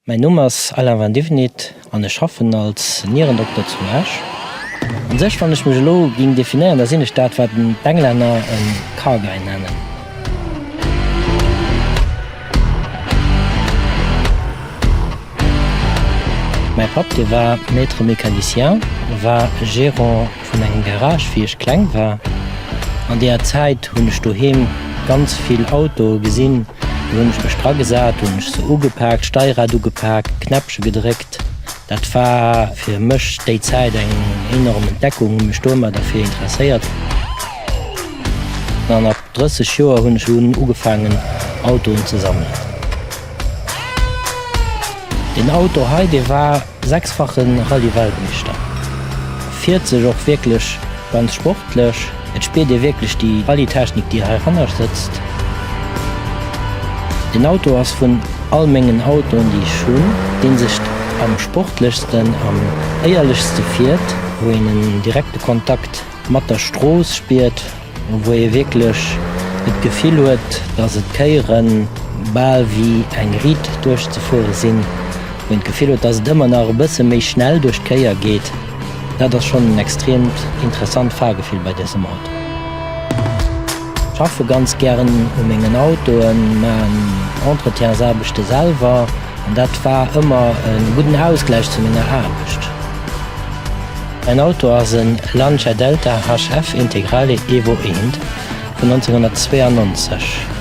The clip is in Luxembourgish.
Mäin Numm ass Alain van Divenit an ech schaffen als Nierendokter zu Esch. An sech wann ech mech elo ging definéieren, da sinn ech dat wat d'Englänner en Car Guy nennen. Mäi Papp, dee war Maître mécanicien, war Gérant vun engem Garage wéi ech kleng war. An deeër Zäit hunn ech doheem ganz vill Autoe gesinn. Do hunn ech mech dra gesat, hunn ech se ugepaakt, Steierad ugepaakt, d'Knäppche gedréckt. Dat war fir mech déi Zäit eng enorm Entdeckung, hunn mech domat derfir interesséiert. An ab 30 Joer hunn ech dunn ugefaangen Autoen ze sammelen. Deen Auto hei, dee war sechsfache Rallye-Weltmeeschter, fiert sech och wierklech ganz sportlech. Et spiert ee wierklech déi Rallye-Technik, déi heihanner sëtzt. Deen Auto ass vun all mengen Autoen, déi ech hunn, dee sech am sportlechsten, am éierlechste fiert, wou een en direkte Kontakt. Mat der Strooss spiert, wou ee wierklech et Gefill huet, dass et Kéiere bal wéi eng Riit duerchzefuere sinn, wou een d'Gefill huet, dass et ëmmer nach e bësse méi schnell duerch d'Kéier geet, dat ass schonn en extreemt interessant Fahrgefill bei dësem Auto. Ech schaffe ganz gären u mengen Autoen, maachen Entretiensaarbechte selwer an dat war ëmmer e gudden Ausgläich zu menger Aarbecht. En Auto ass en Lancia Delta HF Integrale Evo eent vun 1992.